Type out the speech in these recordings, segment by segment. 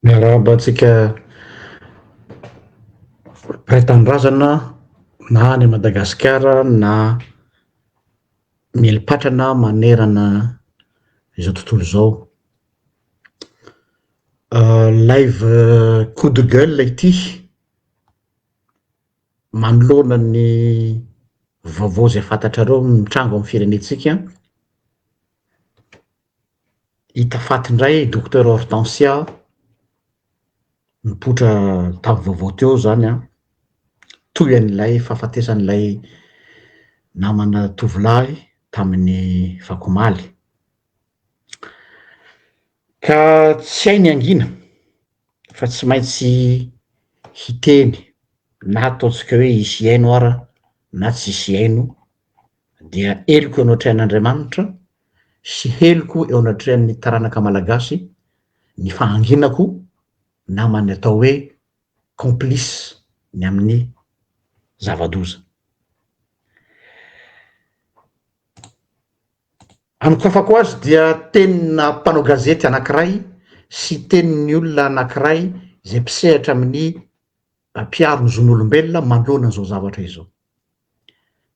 Miarahaba antsika mpiray tanindrazana na any Madagasikara na mieli-patrana manerana izao tontolo izao. Live coup de gueule ity manoloana ny vaovao izay fantatrareo mitranga ao amin'ny firenentsika. Hita faty indray i Docteur Hortensia, nipoitra tavy vaovao teo izany an, toy an'ilay fahafatesan'ilay namana tovolahy tamin'ny vakomaly. Ka tsy hay ny hangina fa tsy maintsy hiteny na ataontsika hoe hisy hihaino ara na tsisy hihaino dia heloko eo anatrehan'Andriamanitra sy heloko eo anatrehan'ny taranaka malagasy ny fahanginako naman'ny atao hoe complice ny amin'ny zava-doza. Anokafako azy dia tenina mpanao gazety anankiray sy tenin'ny olona anankiray izay mpisehatra amin'ny mpiaro ny zon'olombelona manoloana izao zavatra izao.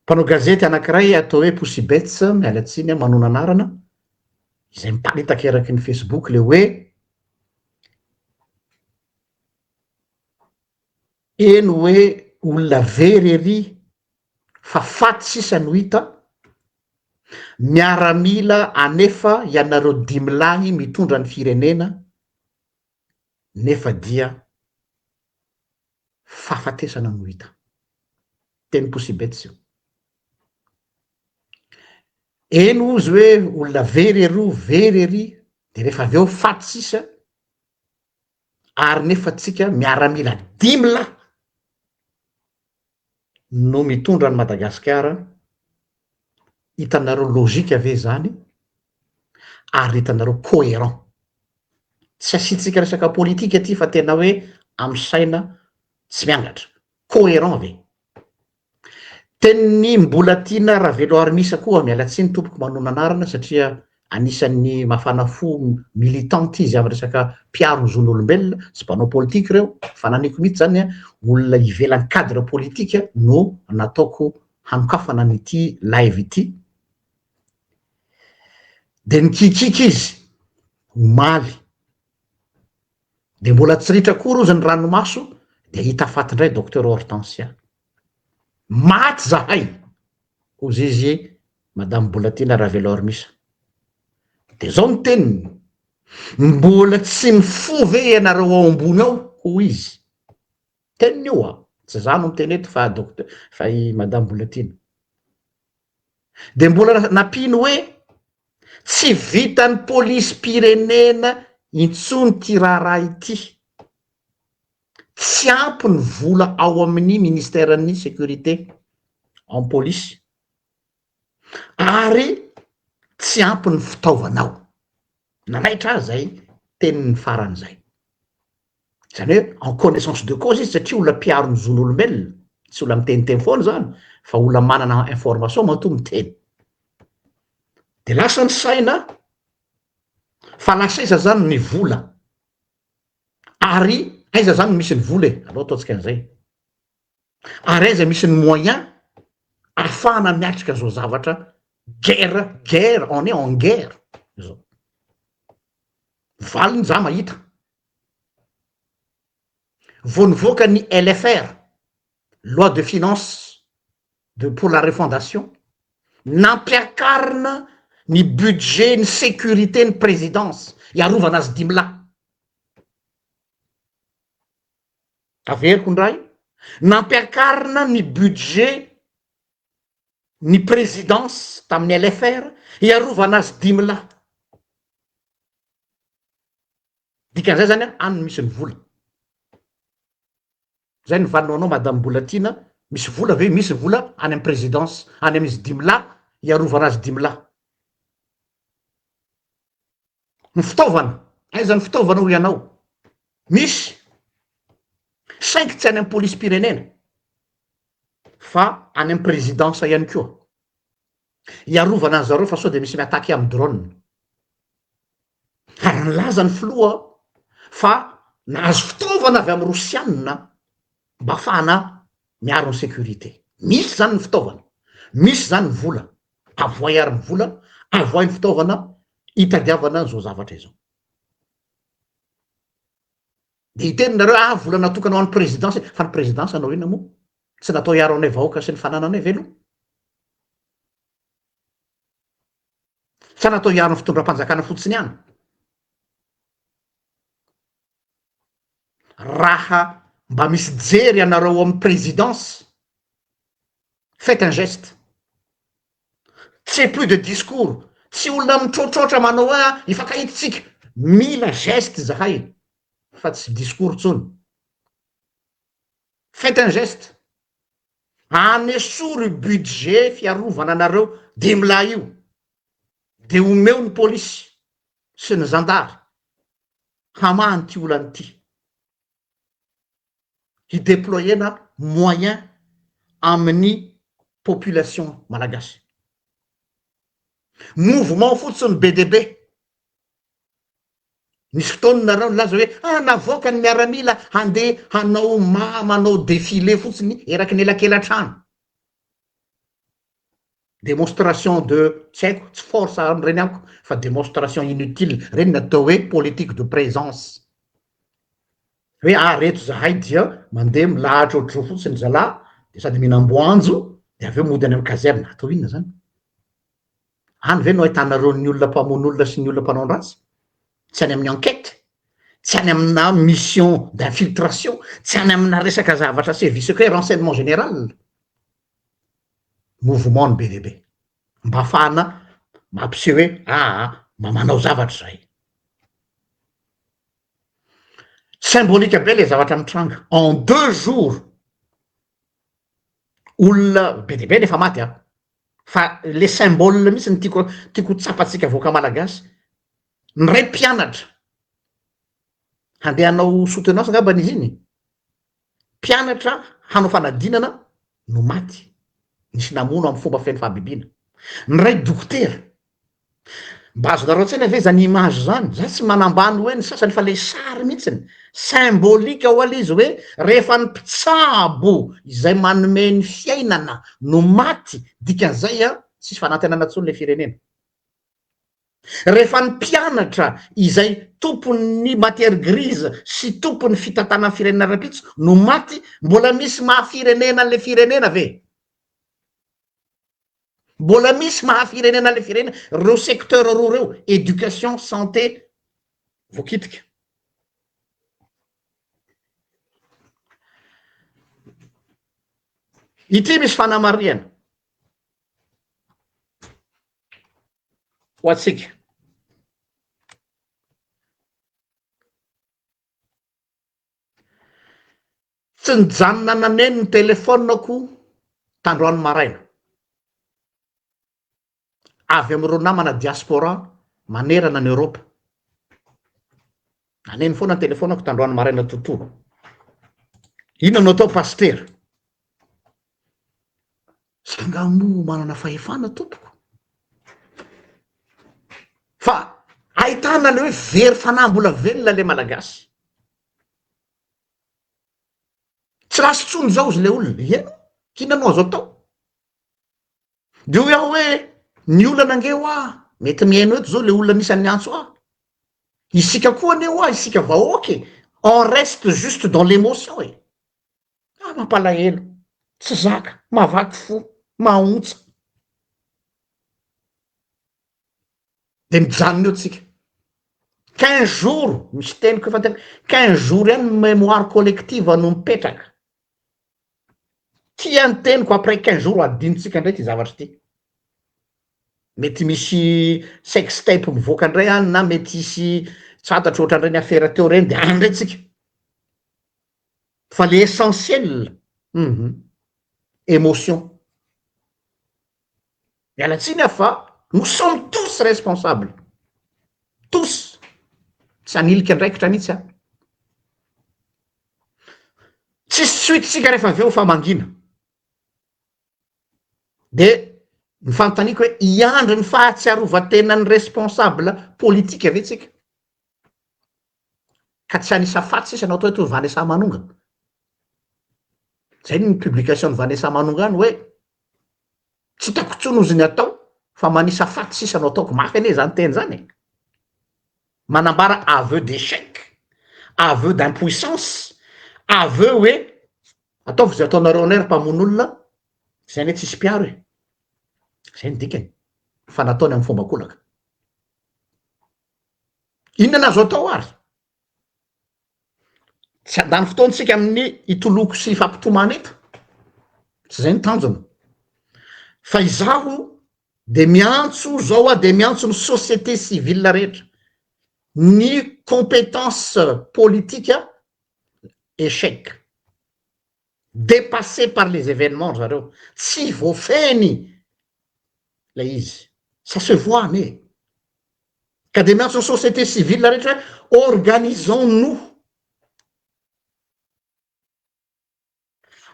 Mpanao gazety anankiray atao hoe Pussybets, miala tsiny aho manona anarana, izay miparitaka eraky ny Facebook le hoe eny hoe olona very ery fa faty sisa no hita, miaramila anefa ianareo dimy lahy mitondra ny firenena, nefa dia fahafatesana no hita. Teny Kosibets io. Eny hozy hoe olona very ery o, very ery, dia rehefa avy eo faty sisa, ary nefa tsika miaramila dimy lahy, no mitondra an'i Madagasikara, hitanareo logique ve izany ary hitanareo coherent? Tsy asiantsika resaka politika aty fa tena hoe amin'ny saina tsy miangatra. Coherent ve? Tenin'ny Mbolatiana Raveloarimisa koa, miala tsiny tompoko manonona anarana satria Anisan'ny mafana fo militante izy amin'ny resaka mpiaro ny zon'olombelona sy mpanao politika ireo, fananiko mihitsy izany olona ivelan'ny cadre politika no nataoko hanokafana an'ity live ity. Dia nikikiky izy omaly, dia mbola tsy ritra akory hozy ny ranomaso dia hita faty indray Docteur Hortensia. Maty zahay! hozy izy, Madame Bolatiana Ravelormisa. Dia izao ny teniny, Mbola tsy mifoha ve ianareo ao ambony ao? hoy izy. Teniny io an! Tsy izaho no miteny eto fa Docteur, fa i Madame Bolatiana. Dia mbola nampiany hoe, Tsy vitan'ny polisim-pirenena intsony ity raharaha ity. Tsy ampy ny vola ao amin'ny Ministeran'ny Sécurité, amin'ny Polisy, ary tsy ampy ny fitaovana ao. Nanaitra ahy izay teniny farany izay. Izany hoe en connaissance de cause izy satria olona mpiaro ny zon'olombelona, tsy olona miteniteny foana izany fa olona manana information matoa miteny. Dia lasa ny saina fa lasa aiza izany ny vola? Ary aiza zany no misy ny vola e? Aleo ataontsika an'izay. Ary aiza misy ny moyen ahafahana miatrika zao zavatra guerre guerre on est en guerre zao. Valiny za mahita. Vao nivoaka ny LFR loi de finance de pour la refondation nampiakarina ny budget ny sécurité ny présidence hiarovana azy dimy lahy averiko indray nampiakarina ny budget ny présidence tamin'ny lfr hiarovana azy dimy lahy dikan'izay zany any misy ny vola Zay ny valiny ho anao madame Mbolatiana, misy vola ve? Misy ny vola any amin'ny présidence, any amin'izy dimy lahy, hiarovana azy dimy lahy. Ny fitaovana, aiza ny fitaovana hoy ianao? Misy, saingy tsy any amin'ny polisim-pirenena fa any amin'ny présidence ihany koa. hiarovana an'i zareo fa sao dia misy mi-attaquer amin'ny drone. Ary nilaza ny filoha fa nahazo fitaovana avy amin'ny Rosiana mba hahafahana miaro ny sécurité. Misy izany ny fitaovana, misy izany ny vola. Avohay ary ny vola, avohay ny fitaovana hitadiavana an'izao zavatra izao. Dia hiteny nareo ah vola natokana ho an'ny présidence e, fa ny présidence hanao inona moa? Tsy natao hiaro anay vahoaka sy ny fanananay ve aloha? Sa natao hiaro ny fitondram-panjakana fotsiny ihany? Raha mba misy jery anareo ao amin'ny présidence, Faites un geste. Ce plus de discours. Tsy olona mitrotrotra manao hoe ah, hifankahita isika. Mila geste zahay fa tsy discours intsony. Faites un geste. Anesory budget fiarovana anareo dimy lahy io. Dia omeo ny polisy sy ny zandary hamaha an'ity olana ity. hi-deployer-na moyen amin'ny population malagasy. Mouvement fotsiny be dia be. Nisy fotoana nareo nilaza hoe ah navoaka ny miaramila handeha hanao ma- manao défilé fotsiny eraky ny elakelatrano. demonstration de tsy haiko tsy force any reny amiko fa demonstration inutile reny ny atao hoe politique de présence hoe ah reto zahay dia mandeha milahatra ohatr'izao fotsiny zalahy de sady mihinam-boanjo de avy eo mody any amin'ny caserne atao inona zany any ve no ahitanareo ny olona mpamono olona sy ny olona mpanao ny ratsy tsy any amin'ny enquête tsy any amina mission d'infiltration tsy any amina resaka zavatra sevisecret renseignement général mouvement-ny be dia be, mba ahafahana mampiseho hoe aa mba manao zavatra izahay. Symbolique be ilay zavatra mitranga, en deux jours, olona be dia be no efa maty an! fa le symbole mihitsy no tiako tiako ho tsapantsika vahoaka malagasy, ny ray mpianatra handeha hanao soutenance angambany izy iny e! Mpianatra hanao fanadinana no maty, nisy namono amin'ny fomba feno fahabibiana. Ny ray dokotera. Mba azonareo an-tsaina ve izany image izany? Za tsy manambany hoe ny sasany fa le sary mihitsiny. Symbolique ho'a le izy hoe rehefa ny mpitsabo izay manome ny fiainana no maty dikan'izay an tsisy fanantenana intsony le firenena. Rehefa ny mpianatra izay tompon'ny matière grise sy tompon'ny fitantanan'ny firenena rahampitso no maty, mbola misy maha firenena an'ilay firenena ve? Mbola misy maha firenena an'ilay firenena ireo secteurs roa ireo, éducation, santé, voakitika. Ity misy fanamarihana. ho antsika. Tsy nijanona naneno ny telefaoniko tandroany maraina, avy amin'ireo namana diaspora manerana an'i Eoropa. Naneno foana ny telefaoniko tandroany maraina totoa. Inona no atao pasitera? Za nga moa manana fahefana tompoko? Fa ahitana le hoe very fanahy mbola velona le malagasy. Tsy lasa intsony zao izy le olona, ianao inona no azo atao? De hoy aho hoe ny olana nge hoa mety mihaino eto zao le olona anisan'ny miantso ahy, isika koa anie hoa isika vahoaka e, on reste juste dans l'emotion e. ah mampalahelo tsy zaka mahavaky fo mahaontsa de mijanona eo tsika quinze jours misy teniko efa tena quinze jours ihany ny memoire collective no mipetraka tia ny teniko après quinze jours adinontsika ndray ty zavatra ty mety misy sextape mivoaka ndray any na mety hisy tsy fantatro ohatran'ireny afera teo reny de any ndray tsika Fa le essentiel, hum emotion. Miala tsiny aho fa nous sommes tous responsables, tous, tsy hanilika andraikitra mihitsy aho. Tsisy suite tsika rehefa avy eo fa mangina. De ny fanontaniako hoe hiandry ny fahatsiarovan-tenan'ny responsable politika ve tsika? ka tsy an'isa faty sisa no atao eto hoe Vanessa Manonga. Zay ny publication ny Vanessa Manonga ny hoe tsy hitako intsony ozy ny atao fa manisa faty sisa no ataoko, mafy anie zany teny zany e. Manambara aveu d'échec, aveu d'impuissance, aveu hoe ataovy izay ataonareo anay ry mpamono olona, zay anie tsisy mpiaro e. Zay ny dikany fa nataony amin'ny fomba kolaka. Inona no azo atao ary? Tsy handany fotoantsika amin'ny hitoloko sy hifampitomany eto, tsy izay ny tanjona. Fa izaho dia miantso izao aho dia miantso ny société civile rehetra, ny compétence politique échec. Dépassé par les événements ry zareo, tsy voafehiny ilay izy, ça se voit anie e! Ka dia miantso ny société civile rehetra hoe organisons-nous,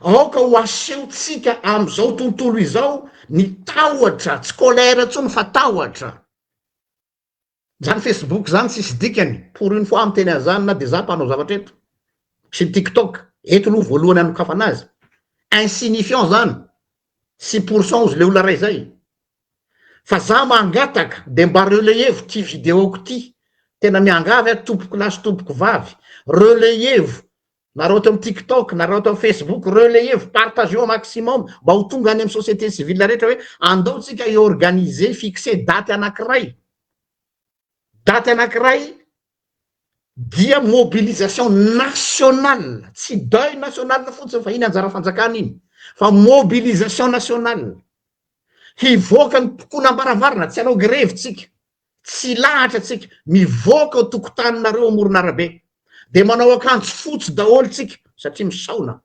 aoka ho asehontsika amin'izao tontolo izao ny tahotra, tsy colère intsony fa tahotra. Zany Facebook zany tsisy dikany, pour une fois miteny an'zany na de za mpanao zavatra eto, sy ny tiktok, eto aloha voalohany anokafana azy, insignifiant zany, tsy pour cent ozy le olona ray zay, fa za mangataka de mba relayez-vo ty video-ko ty, tena miangavy aho tompoko lahy sy tompoko vavy, relayez-vo Nareo ato amin'ny tiktok, nareo ato amin'ny facebook, relayez-y, partagez-y au maximum mba ho tonga any amin'ny société civile rehetra hoe andao tsika hi-organiser, hi-fixer daty anankiray. Daty anankiray dia mobilisation nationale, tsy deuil national fotsiny fa iny anjara fanjakana iny fa mobilisation nationale. Hivoaka ny mpikolo am-baravarana, tsy hanao grevy tsika. Tsy lahatra tsika, mivoaka eo tokotaninareo amoron'arabe dia manao akanjo fotsy daholo tsika satria misaona.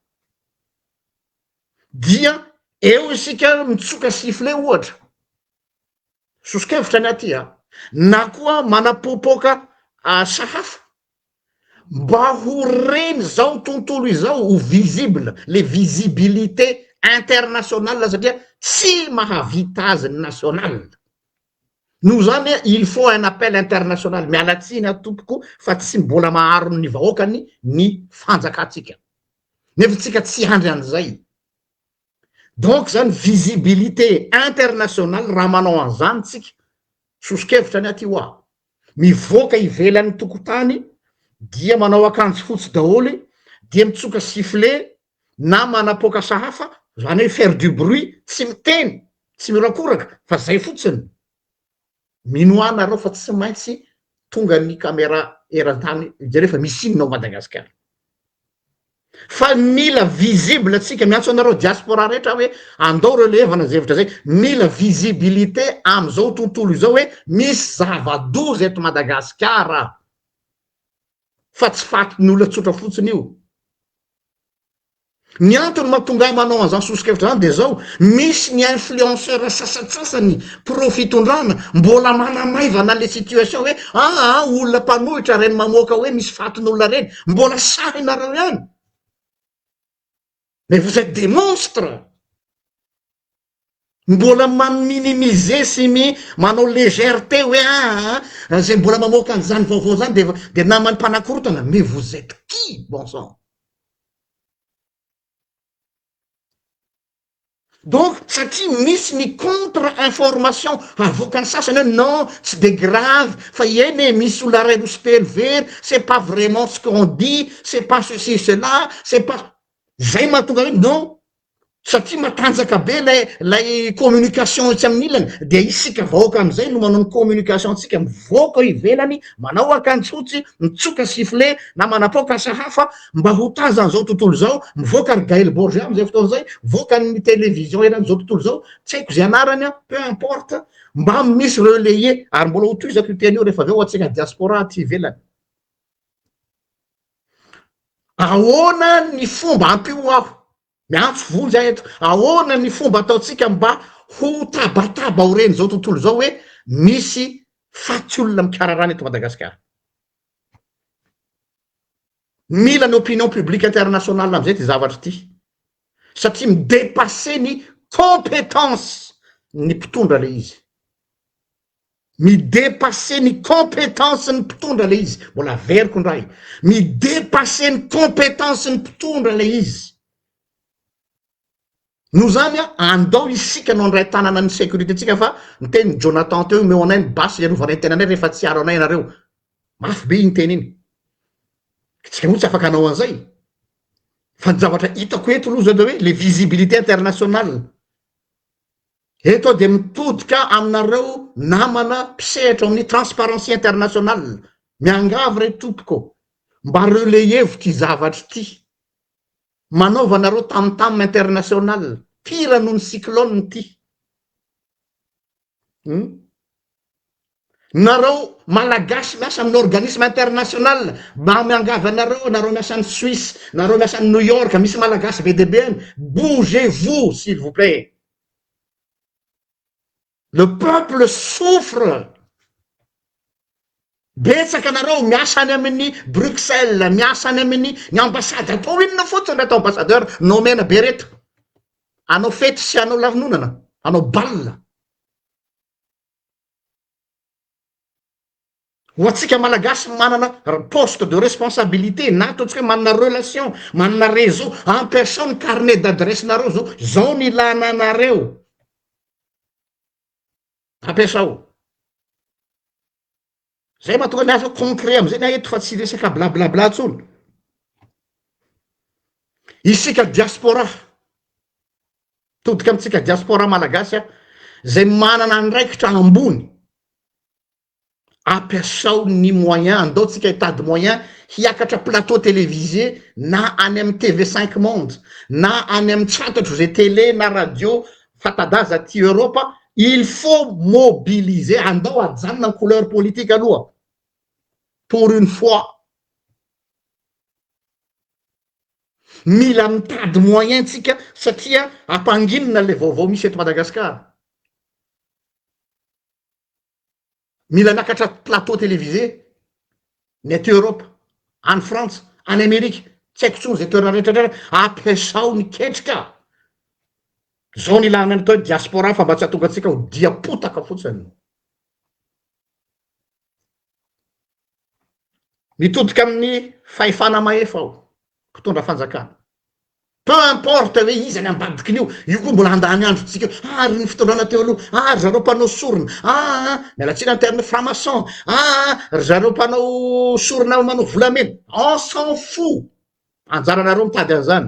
Dia eo isika mitsoka sifflet ohatra, soso-kevitra ny aty a, na koa manapoapoaka sahafa mba ho reny izao tontolo izao ho visible, le visibilité internationale satria tsy mahavita azy ny national. Noho izany il faut un appel international, miala tsiny aho tompoko fa tsy mbola maharon' ny vahoakany ny fanjakantsika. Nefa tsika tsy handry an'izay. Donc izany visibilité internationale raha manao an'izany tsika, soso-kevitra ny aty hoa, mivoaka ivelan'ny tokotany dia manao akanjo fotsy daholo dia mitsoka sifflet na manapoaka sahafa zany hoe faire du bruit tsy miteny tsy mirakoraka fa zay fotsiny mino ahy nareo fa tsy maintsy tonga ny camera eran-tany hijery fa misy inona ao Madagasikara fa mila visible tsika miantso anareo diaspora rehetra hoe andao reo levana zay hevitra zay mila visibilité am'izao tontolo izao hoe misy zava-doza eto Madagasikara fa tsy fatin'olona tsotra fotsiny io Ny antony mahatonga ahy manao an'izany sosokevitra izany dia izao, misy ny influenceurs sasantsasany pro fitondrana mbola manamaivana ilay situation hoe aa olona mpanohitra ireny mamoaka hoe misy fatin'olona ireny, mbola sahinareo ihany mais vous etes des monstres! Mbola ma minimiser sy mi manao légèreté hoe aa zay mbola mamoaka an'izany vaovao zany dia dia naman'ny mpanakorotana, mais vous etes qui bon sang? Donc satria misy ny contre information havoakan'ny sasany hoe non tsy dia grave fa eny e misy olona iray roa sy telo very, c'est pas vraiment ce qu'on dit, c'est pas ceci cela, c'est pas zay mahatonga hoe non satria matanjaka be lay lay communication etsy amin'ny ilany dia isika vahoaka amizay no manao ny communication antsika mivoaka eo ivelany manao akanjo fotsy mitsoka sifflet na manapaoka asa hafa mba ho tazan'izao tontolo izao mivoaka ry Gaël Borja amizay fotoana izay voakan'ny télévision eran'izao tontolo izao tsy haiko izay anarany an peu importe mba misy relayer ary mbola ho tohizako io teny io rehefa avy eo ho antsika diaspora aty ivelany Ahoana ny fomba, ampio aho, miantso vonjy aho eto, ahoana ny fomba ataontsika mba ho tabataba aorian'izao tontolo izao hoe misy faty olona mikararana eto Madagasikara? Mila ny opinion publique internationale amin'izay ity zavatra ity satria mi-depasser ny compétence ny mpitondra ilay izy. Mi-depasser ny compétence ny mpitondra le izy, mbola averiko ndray, mi-depasser ny compétence ny mpitondra le izy. Noho zany a, andao isika no andray tanana ny sécurité tsika fa niteny Jonathan teo omeo anay ny basy hiarovana ny tenanay rehefa tsy hiaro anay ianareo. Mafy be iny teny iny. Ka tsika moa tsy afaka hanao anzay. Fa ny zavatra hitako eto loha zao de hoe le visibilité internationale. Eto aho dia mitodika aminareo namana mpisehatra ao amin'ny Transparency International, miangavy re tompoko mba relayez-vo ity zavatra ity, manaovanareo tam tam international, pire noho ny cyclone ity. Hum. Nareo malagasy miasa amin'ny organisme international mba miangavy anareo nareo miasa any suisse nareo miasa any new york misy malagasy be dia be any bougez vous s'il vous plait le peuple souffre betsaka nareo miasa any amin'ny bruxelles miasa any amin'ny ny ambassade atao inona fotsiny reto ambassadeur nomena be reto anao fety sy anao lanonana anao bal Ho antsika Malagasy manana poste de responsabilité na ataontsika hoe manana relation, manana réseau, ampiasao ny carnet d'adresse-nareo zao, zao ny ilana anareo, ampiasao. Zay mahatonga ny asa concret amzay ny ahy eto fa tsy resaka bla bla bla tsony. Isika diaspora, todika amitsika diaspora malagasy aho, zay manana andraikitra ambony, ampiasao ny moyen, andao tsika hitady moyen hiakatra plateau televisé na any am TV cinq monde, na any am tsy fantatro ze tele na radio fatadaza aty Europe il faut mobiliser andao ajanona ny couleur politique aloha pour une fois mila mitady moyen tsika satria ampanginina le vaovao misy eto Madagascar. Mila miakatra plateau télévisé ny aty Europe, any Frantsa, any Amerika, tsy haiko intsony zay toerana rehetra rehetra, ampiasao ny ketrika, zao no ilana ny atao hoe diaspora fa mba tsy hahatonga antsika ho dia potaka fotsiny. Mitodika amin'ny fahefana mahefa aho, mpitondra fanjakana. Peu importe hoe iza ny ambadiky ny io, io koa mbola handany androntsika eo, ah ry ny fitondrana teo aloha, ah ry zareo mpanao sorona, ah ah, miala tsiny ny terme franc-maçon, ah ah, ry zareo mpanao sorona manao volamena, on s'en fout! Anjaranareo mitady an'izany.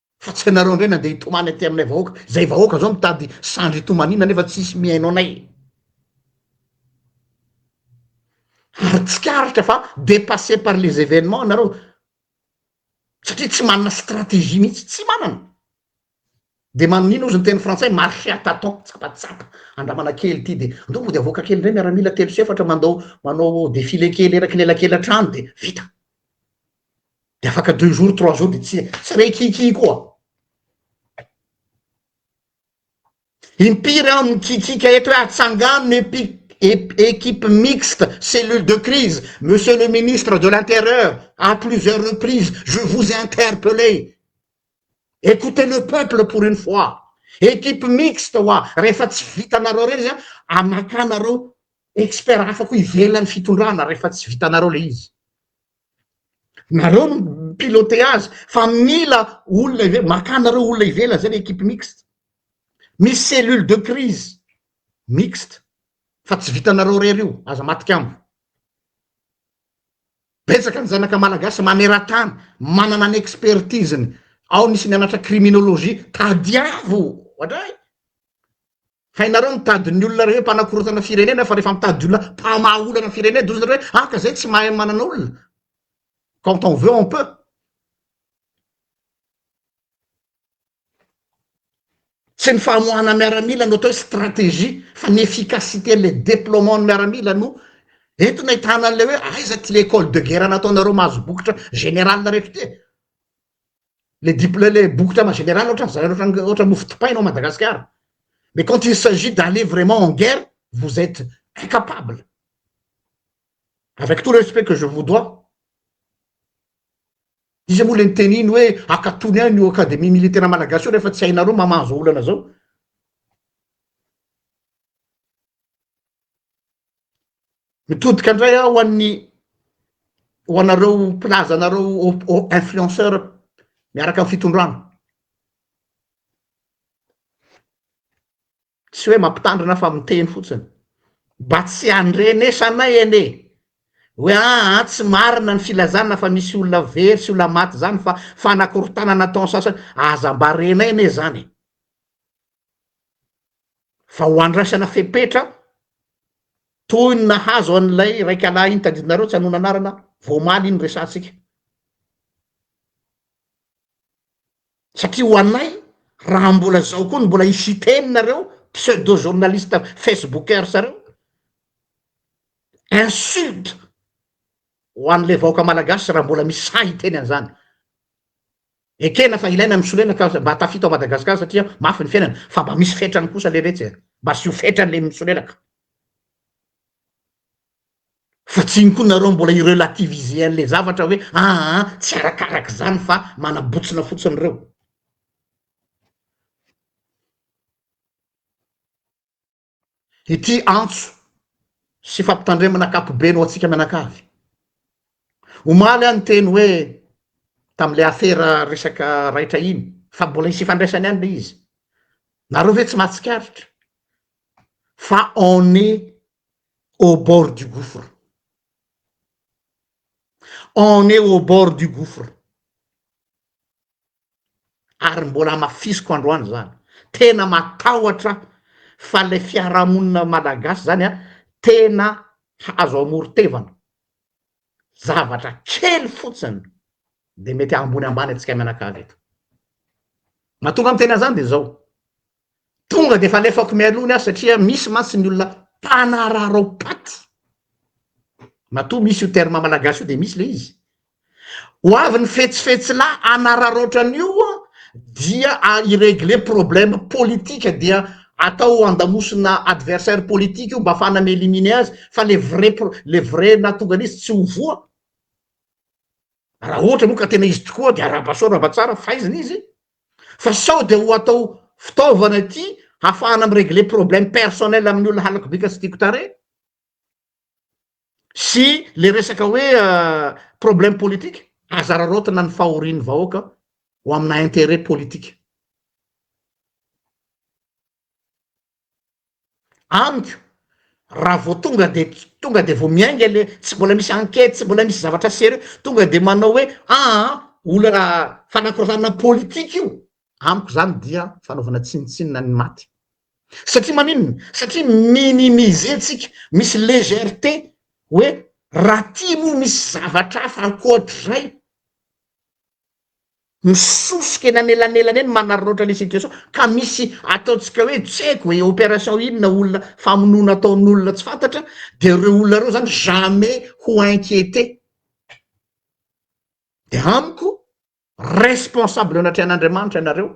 fa tsy anareo ndray nandeha hitomany aty aminay vahoaka zay vahoaka zao mitady sandry hitomanina nefa tsisy mihaino anay ary tsikaritra fa depasse par les événements nareo satria tsy manana stratégie mihitsy tsy manana de maninona ozy ny teny frantsay marche à taton tsapatsapa andramana kely ity de andao mody avoaka kely ndray miaramila telo sy efatra mandao manao défilé kely eraky lelakely hatrany de vita de afaka deux jours trois jours de tsy tsy re kiki koa impiry aho mikikika eto hoe atsangano epic équipe mixte cellule de crise monsieur le ministre de l'intérieur à plusieurs reprises je vous interpellé écoutez le peuple pour une fois équipe mixte wa rehefa tsy vitanareo reny zany amakanareo expert hafa koa ivelan'ny fitondrana rehefa tsy vitanareo le izy Nareo no mi-piloter azy fa mila olona ivelany, makà nareo olona ivelany zay le equipe mixte, misy cellule de crise mixte fa tsy vitanareo rery io, aza matikambo. Betsaka ny zanaka malagasy maneran-tany manana ny expertise-ny, ao nisy nianatra criminologie, tadiavo oadray. Hainareo mitady ny olona rehefa mpanakorontana firenena fa rehefa mitady olona mpamaha olana ny firenena dia hoy zareo hoe aka izay tsy mahay manana olona. Quand on veut on peut. Tsy ny famoahana miaramila no atao hoe stratégie fa ny efficacité an'le déploiement ny miaramila no entina hitana an'le hoe aiza ty le école de guerre nataonareo mahazo bokotra général rehetra ty e. le dip le le bokotra ma général ohatran za ohatran ohatran mofo dipaina ao Madagascar mais quand il s'agit d'aller vraiment en guerre vous etes incapable avec tout le respect que je vous dois iza moa le niteny iny hoe akatony any io academie militaire malagasy io rehefa tsy hainareo mamaha zao olana zao. Mitodika indray aho ho an'ny ho anareo mpilaza anareo influenceur miaraka amin'ny fitondrana. Tsy hoe mampitandrina fa miteny fotsiny. Mba tsy andrenesanay anie hoe aa tsy marina ny filazana fa misy olona very sy olona maty izany fa fanakorontanana ataon'ny sasany. Aza mba renay anie izany e! fa ho andraisana fepetra toy ny nahazo an'ilay raikalahy iny tadidinareo tsy hanoana anarana vao omaly iny resahantsika satria ho anay raha mbola zao koa ny mbola i Siteny nareo pseudo journaliste facebookers reo insulte ho an'ilay vahoaka malagasy raha mbola misy sahy hiteny an'izany Ekena fa ilaina ny solena ka mba tafita ao Madagascar satria mafy ny fiainana fa mba misy fetrany kosa le retsy e! Mba asio fetrany le misolelaka fa tsy iny koa nareo mbola i relativiser le zavatra hoe aa tsy arakaraka zany fa manabotsina fotsiny reo. ity antso sy fampitandremana ankapobeny ho antsika mianakavy. Omaly aho niteny hoe tamin'ilay afera resaka raitra iny fa mbola hisy ifandraisany ihany ilay izy. Nareo ve tsy mahatsikaritra fa on est au bord du gouffre. On est au bord du gouffre. ary mbola hamafisiko androany zany, tena matahotra aho fa le fiarahamonina malagasy zany a tena azo amoron-tevana, zavatra kely fotsiny de mety ambony ambany antsika mianakavy eto, mahatonga miteny an'zany de zao. Tonga dia efa alefako mialoha ny ahy satria misy mantsy ny olona mpanaraharao paty, matoa misy io terme malagasy io dia misy ilay izy. Ho avy ny fetsifetsilahy hanararaotra an'io dia hi-regler problème politique dia atao andamosina adversaire politique io mba afahana mi-eliminer azy fa le vrai pro- le vrai nahatonga an'izy tsy ho voa. Raha ohatra moa ka tena izy tokoa dia arahaba soa arahaba tsara faizina izy. fa sao dia ho atao fitaovana ity hafahana mi regler problème personnel amin'ny olona halako bika sy tiako tarehy sy le resaka hoe problème politique aza araraotina ny fahorian'ny vahoaka ho amina interet politique. Amiko raha vao tonga de tonga de vao miainga le tsy mbola misy enquête tsy mbola misy zavatra sérieux tonga de manao hoe aa olana fanakoratanana politique io amiko zany dia fanaovana tsinontsinona ny maty satria maninona satria minimiser tsika misy légèreté hoe raha ty moa misy zavatra hafa ankoatrizay Misosika eny anelanelany eny manararaotra ny situation ka misy ataontsika hoe tsy haiko hoe opération inona olona famonoana ataon'olona tsy fantatra dia ireo olona ireo zany jamais ho inquiété dia amiko responsable eo anatrehan'Andriamanitra ianareo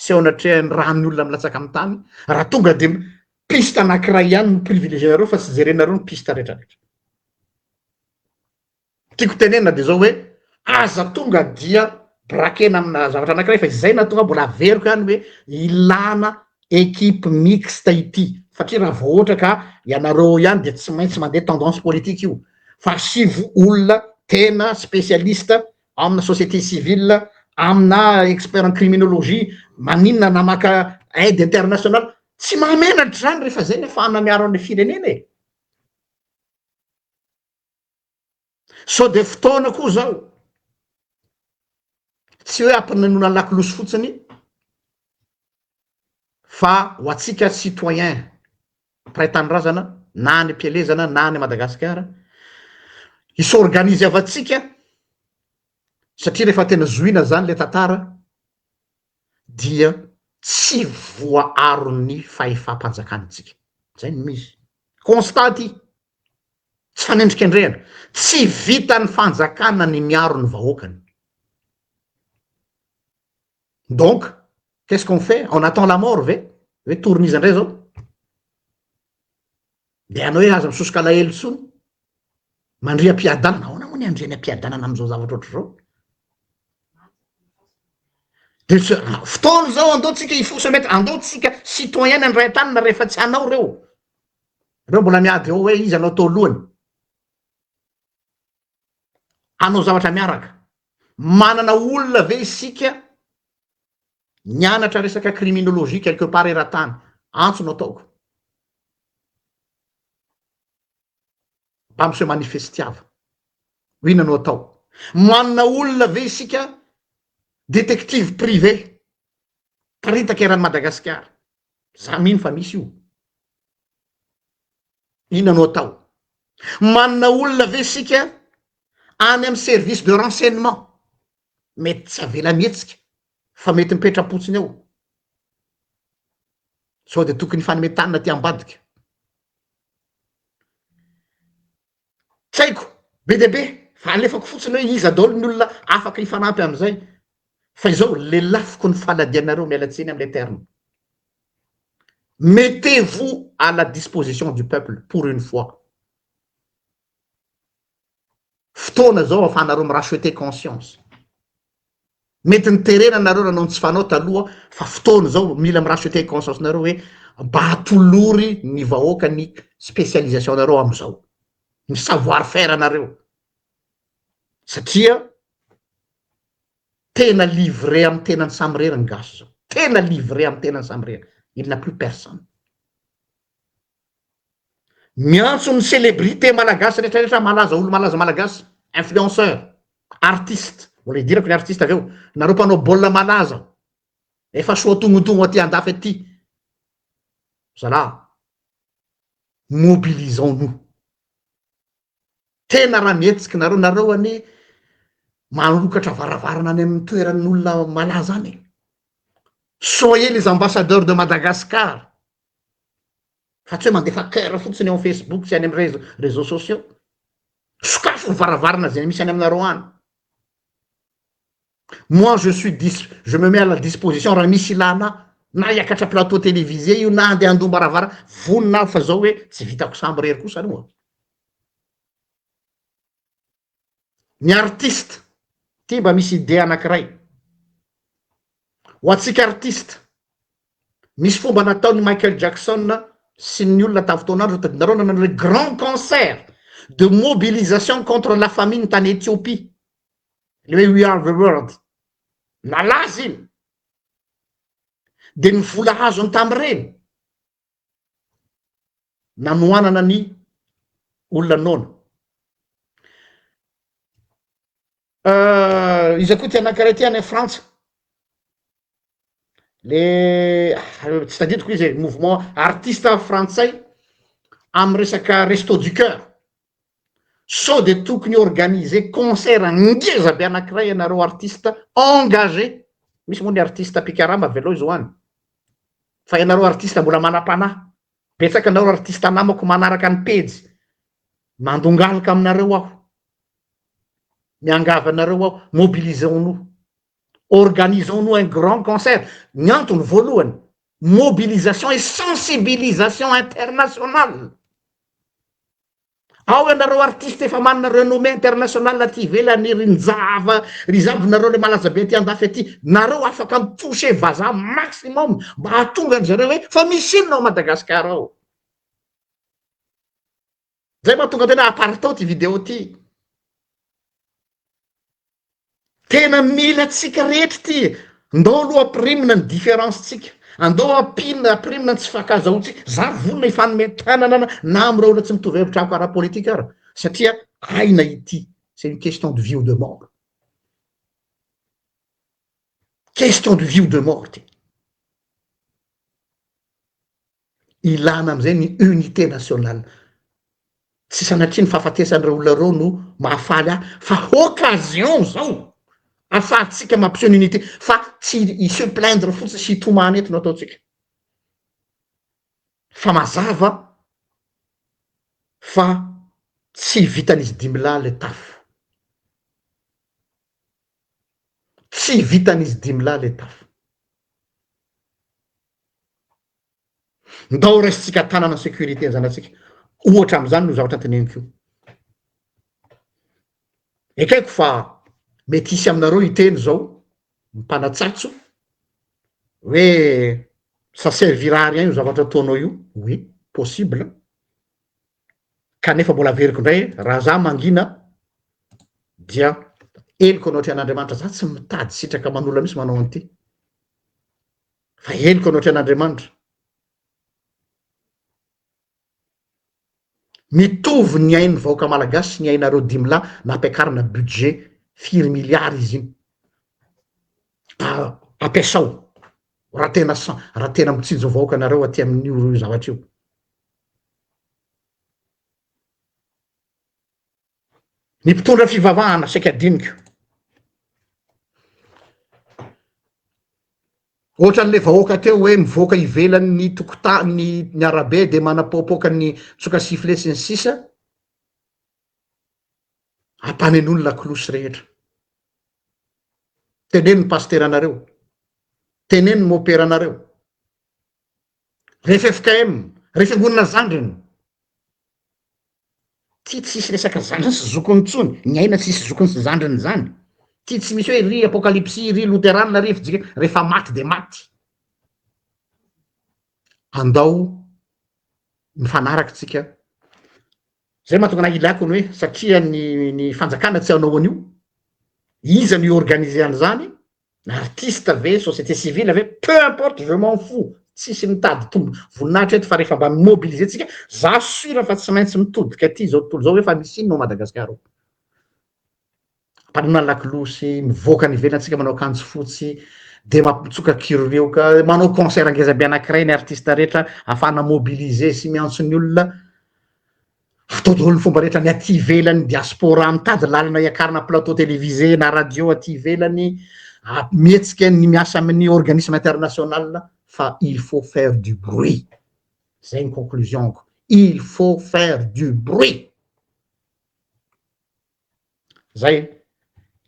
sy eo anatrehan'ny ra ny olona milatsaka amin'ny tany raha tonga dia piste anankiray ihany no privilégier-nareo fa tsy jerenareo ny piste retraretra. Tiako tenenina dia izao hoe, aza tonga dia brakena amina zavatra anankiray fa izay nahatonga ahy mbola averiko ihany hoe ilana equipe mixte ity satria raha vao ohatra ka ianareo ihany dia tsy maintsy mandeha tendance politique io fa asivo olona tena spécialiste amina société civile amina expert en criminologie maninona na maka aide internationale tsy mahamenatra izany rehefa izay ny afahana miaro an'ilay firenena e Sao dia fotoana koa zao. Tsy hoe hampinenon lakolosy fotsiny fa ho antsika citoyen mpiray tanindrazana na any am-pielezana na any Madagasikara, hi-s'organiseavantsika satria rehefa tena zohiana zany le tantara dia tsy voaaron'ny fahefam-panjakana antsika. Zay no misy. Constat ty. tsy fanendrikendrehana, tsy vitan'ny fanjakana ny miaro ny vahoakany. Donc, qu'est-ce qu'on fait? On attend la mort ve? Hoe torin'iza indray zao? Dia hanao hoe aza misosoka alahelo intsony. Mandria am-piadanana, ahoana moa ny andriany am-piadanana amin'izao zavatra ohatr'izao? Dia fotoana izao andao tsika hifosa mety, andao tsika citoyen ny andray an-tanana rehefa tsy hanao ireo. Anao mbola miady eo hoe iza anao tao lohany hanao zavatra miaraka. Manana olona ve isika nianatra resaka criminologie quelque part eran-tany? Antso no ataoko. Mba miseho manifestiava. Ho inona no atao? Manana olona ve isika détective privé Miparitaka eran'i Madagasikara. Za mino fa misy io. Inona no atao? Manana olona ve isika any amin'ny service de renseignement? Mety tsy avela mihetsika fa mety mipetra-potsiny ao. Sao dia tokony hifanome tanana aty ambadika. tsy haiko be dia be fa alefako fotsiny hoe iza daholo ny olona afaka hifanampy amin'izay fa izao lelafiko ny fanadianareo miala tsiny amin'ilay terme mettez vous à la disposition du peuple pour une fois fotoana izao ahafahanareo mi-racheter conscience Mety niterena nareo nanao ny tsy fanao taloha fa fotoana izao mila mi racheter conscience nareo hoe mba atolory ny vahoaka ny specialisation nareo amizao. Ny savoir faire nareo. Satria tena livrer am tenany samy rery ny gasy zao. Tena livrer am tenany samy rery. Il n'a plus personne. Miantso ny celebrité malagasy rehetra rehetra malaza olo malaza malagasy influenceur artiste mbola hidirako ny artiste avy eo nareo mpanao baolina malaza efa soa tognotogno aty andafy aty zalaha mobilisons nous Tena raha mihetsiky nareo, nareo anie manokatra varavarana any amin'ny toeran'olona malaza any e! Soyez les ambassadeurs de Madagascar fa tsy hoe mandefa coeur fotsiny eo amin'ny Facebook sy any amin'ny réseaux sociaux. Sokafy ny varavarana izay misy any aminareo any. Moi je suis dis je me mets à la disposition raha misy ilana ahy na hiakatra plateau télévisé io na andeha handoa am-baravarana vonona aho fa zao hoe tsy vitako sambo rery kosa aloha an! Ny artiste ty mba misy idée anankiray ho antsika artiste misy fomba nataon'i Michael Jackson sy ny olona tamin'ny fotoan'andro tadinareo nanao an'ilay grand concert de mobilisation contre la famine tany Ethiopie ilay We are the world nalaza iny dia ny vola azony tamin'ireny nanohanana ny olona noana iza koa ty anankiray ty any frantsa le tsy tadidiko izy e, mouvement artiste frantsay amy resaka resto du coeur, sao de tokony organiser concert ngeza be anakiray ianareo artiste engagé, misy moa ny artiste mpikarama avy aloha zao any, fa ianareo artiste mbola manam-panahy, betsaka nareo artiste namako manaraka ny pejy, mandongalika aminareo aho, miangavy anareo aho, mobilisons-nous. Organisons-nous un grand concert, ny antony voalohany, mobilisation et sensibilisation internationale. Ao ianareo artistes efa manana renommée internationale aty ivelany, ry Njava, ry Zab, nareo le malaza be aty andafy aty, nareo afaka mi-toucher vazaha maximum mba hahatonga an-dry zareo hoe fa misy inona ao Madagascar ao. Zay mahatonga tena aparitao ity video ity. Tena mila antsika rehetra ity e. Ndao aloha ampirimina ny différence tsika. Andao ampina ampirimina ny tsy fankazahoantsika. Zary vonona hifanome tanana na na amin'ireo olona tsy mitovy hevitra amiko ara politika ara satria aina ity. C'est une question de vie ou de mort. Question de vie ou de mort ity. Ilana amin'izay ny unité nationale. Tsy sanatria ny fahafatesan'ireo olona ireo no mahafaly ahy fa occasion izao ahafahantsika mampiseho ny unité fa tsy i se plaindre fotsiny sy hitomany eto no ataontsika fa mazava fa tsy vitan'izy dimy lahy ilay tafo. Tsy vitan'izy dimy lahy ilay tafo. Ndao raisintsika tanana sécurité ny zanatsika. Ohatra amin'izany no zavatra teneniko io. Ekeko fa mety hisy aminareo hiteny zao mpanatsatso hoe ça servira à rien io zavatra ataonao io. Oui, possible. Kanefa mbola averiko indray raha za mangina dia heloka anao atrehan'Andriamanitra. Za tsy mitady sitraka manolana mihitsy manao an'ity. Fa henoko anao tren' Andriamanitra. Mitovy ny ain'ny vahoaka malagasy sy ny ainareo dimy lahy nampiakarina budget firy milliards izy iny. Ampiasao raha tena raha tena mitsinjo ny vahoaka anareo aty amin'io zavatra io. Ny mpitondra fivavahana saika adinoko. Ohatran'ilay vahoaka teo hoe mivoaka ivelan'ny tokotany ny arabe dia manapoapoaka ny tsoka sifflet sy ny sisa ampanenoiny lakolosy rehetra. Teneno ny pasiteranareo, teneno ny moperanareo, rehefa FKM, rehefa angonina zandriny, Ty tsisy resaka zandriny sy zokiny tsony, ny aina tsisy zokiny sy zandriny zany. Ty tsy misy hoe ry apokalipsy ry loterana ry fijika, refa maty de maty. Andao mifanaraka tsika. Zay mahatonga anah ilako ny hoe satria ny ny fanjakana tsy hanao an'io, iza no hi-organiser an'zany, Artiste ve, société civile ve, peu importe, je m'en fous, tsisy mitady tombo voninahitra eto fa rehefa mba mi-mobiliser tsika, za sûr fa tsy maintsy mitodika aty zao tontolo zao hoe fa misy inona ao Madagascar ao. Mpanolona lakolosy, mivoaka any ivelany tsika manao akanjo fotsy, de mampitsoka kirioka, manao concert ngezabe anakiray ny artiste rehetra afahana mobiliser sy miantso ny olona, Atao daholo ny fomba rehetra ny aty ivelany diaspora mitady lalana hiakarana plateau télévisé na radio aty ivelany mihetsika ny miasa amin'ny organisme international fa il faut faire du bruit zay ny conclusion-ko il faut faire du bruit zay e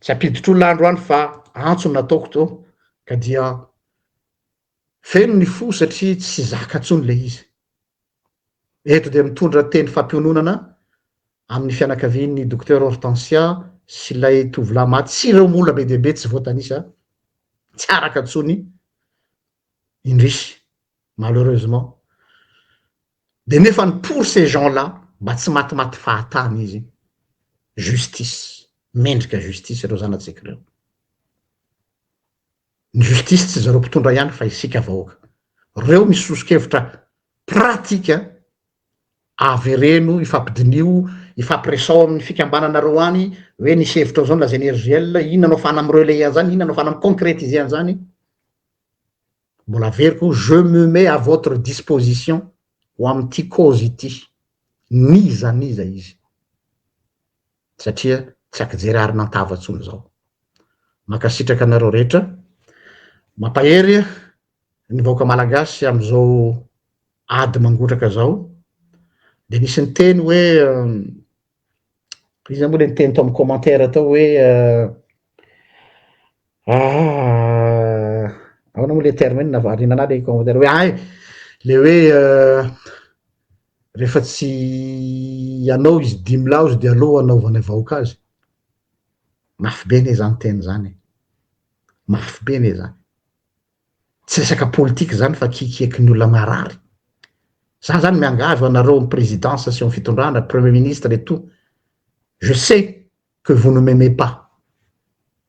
tsy ampiditro olona androany fa antso nataoko to ka dia Feno ny fo satria tsy zaka intsony ilay izy. Eto dia mitondra teny fampiononana amin'ny fianakavian'ny Docteur Hortensia sy ilay tovolahy maty sy ireo mola be dia be tsy voatanisa, tsy araka intsony, indrisy, malheureusement. Dia nefa ny pour ces gens là, mba tsy matimaty fahatany izy, justice, mendrika justice ireo zanatsika ireo. Ny justice tsy zareo mpitondra ihany fa isika vahoaka. Reo misy sosokevitra pratika avereno ifampidiniho ifampiresao aminy fikambananareo any oe nisy hevitra zao nolazainy RGL inona no afahana mi relayer anzany inona no afahana mi concretiser anzany mbola averiko je me mets à votre disposition ho amity cause ity n'iza n'iza izy. satria tsy akijery ary nantava tsony zao. Mankasitraka anareo rehetra, mampahery ny vahoaka malagasy amzao ady mangotraka zao, de nisy niteny hoe iza mo le niteny tao am commentaire tao hoe Ahh aona moa le terme iny nahavariana anah le commentaire hoe ay le hoe rehefa tsy anao izy dimy lahy ozy de aleo hanaovana vahoaka azy mafy be anie zany teny zany e mafy be anie zany tsy resaka politika zany fa kikieky ny olona marary za zany miangavy ho anareo am présidence sy am fitondrana premier ministre et tout je sais que vous ne m'aimez pas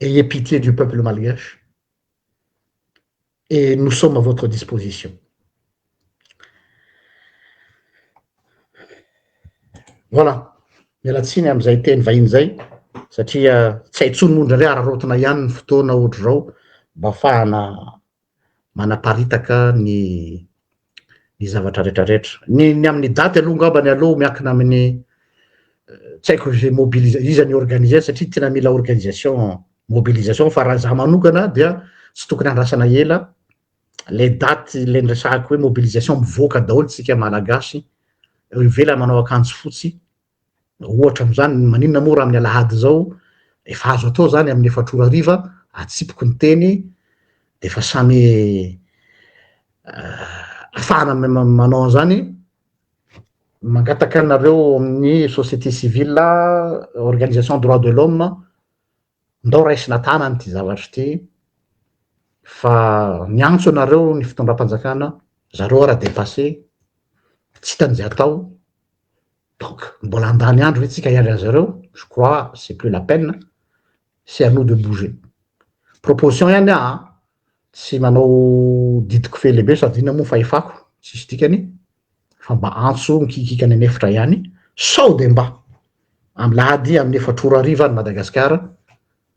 Ayez pitié du peuple malgache et nous sommes à votre disposition. Voilà, miala tsiny amin'izay teny vahiny izay satria tsy hay intsony moa indraindray araraotina ihany ny fotoana ohatr'izao mba afahana manaparitaka ny ny zavatra retraretra ny ny amin'ny daty aloha ngamba ny aloha miakina amin'ny tsy haiko izay mobilisa iza ny organiser satria tena mila organisation mobilisation fa raha za manokana dia tsy tokony andrasana ela le daty le nresahako hoe mobilisation mivoaka daholo tsika malagasy eo ivelany manao akanjo fotsy Ohatra amin'izany, maninona moa raha amin'ny alahady izao efa azo atao izany amin'ny efatra ora hariva, atsipiko ny teny dia efa samy afahana manao an'izany, mangataka anareo amin'ny société civile, organisation droit de l'homme, ndao raisina tanana ity zavatra ity fa miantso anareo ny fitondram-panjakana, zareo ara-depasse, tsy hitan'izay atao, Donc mbola handany andro ve tsika hiandry an'i zareo? Je crois c'est plus la peine, c'est à nous de bouger. Proposition ihany aho an, tsy manao didy kofehy lehibe sady inona moa ny fahefako, tsisy dikany, fa mba antso mikikiaka any an'efitra ihany, sao dia mba, amin'ny lahady amin'ny efatra ora hariva any Madagasikara,